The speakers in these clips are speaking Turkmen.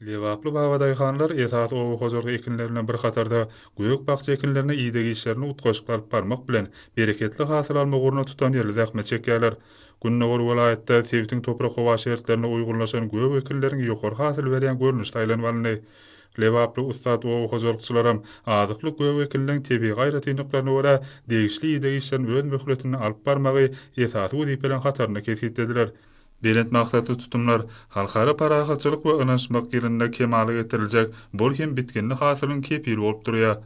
Lebaply babadaýhanlar esasy oba hojalyk ekinlerine bir hatarda gök-bakja ekinlerine ideg işlerini utgaşykly alyp barmak bilen, bereketli hasyl almak ugrunda tutanýerli zähmet çekýärler. Gündogar welaýatda sebitiň toprak-howa şertlerine uýgunlaşan gök ekinleriň ýokary hasyl berýän görnüşi saýlanyp alyndy. Lebaply ussat oba hojalykçylaram azyklyk gök ekinleň tebigy aýratynlyklaryna görä, degişli ideg işlerini öz möhletinde alyp barmagy esasy wezipeleriň hatarynda kesgitlediler. Belent maksatly tutumlar Halkara parahatçylyk we ynanyşmak ýylynda kemala getiriljek bol hem bitginli hasylyň kepili bolup durýar.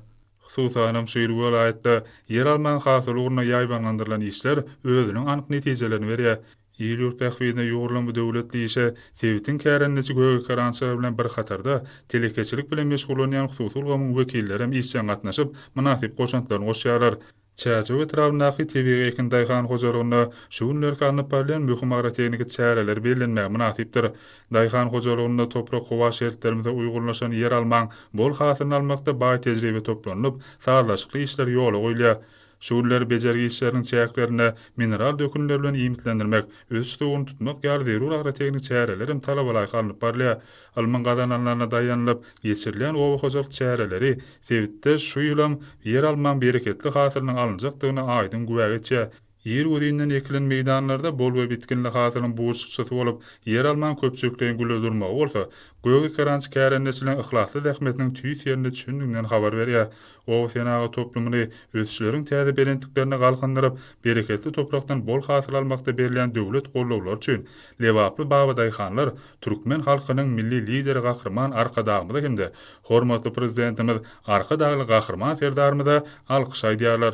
Hususanam şu ýyl welaýatda ýeralmaň hasyly ugrunda ýaýbaňlandyrylan işler özüniň anyk netijelerini berýär. Il-ýurt bähbidine ýugrulan bu döwletli işe sebitiň kärendeçi gögekerançylary bilen bir hatarda, telekeçilik bilen meşgullanýan hususy ulgamyň wekilleri hem işjeň gatnaşyp, mynasyp goşantlaryny goşýarlar. Çärjew etrabyndaky tebigy ekin daýhan hojalygynda şu günlerki alnyp barylýan möhüm agrotehniki çäreler bellenmäge mynasypdyr. Daýhan hojalygynda toprak-howa şertlerimize uýgunlaşan ýeralmaň bol hasylyny almakda baý tejribe toplanylyp, sazlaşykly işler ýola goýulýar. Şu günler bejergi işleriniň çäklerinde mineral dökünler bilen iýmitlendirmek, ösüş suwuny tutmak ýaly zerur agrotehniki çäreler hem talabalaýyk alnyp barylýar. Ylmyň gazananlaryna daýanylyp geçirilýän oba hojalyk çäreleri sebitde şu ýylam ýeralmaň bereketli hasylynyň alynjakdygyna aýdyň güwä geçýär. Ir güzinden ekilen meýdanlarda bol we bitginli hasylyň burçlukçysy bolup, ýeralmaň köpçülikleýin gülle durmagy bolsa, gök ekerançy kärendeçiligiň yhlasly zähmetiniň tüýs ýerinde çündiginden habar berýär. Oba senagat toplumyny ösüşleriň täze belentliklerine galkyndyryp, bereketli toprakdan bol hasyl almakda berilýän döwlet gollawlary üçin lebaply babadaýhanlar türkmen halkynyň Milli Lideri Gahryman Arkadagymyza hem-de hormatly Prezidentimiz Arkadagly Gahryman Serdarymyza alkyş aýdýarlar.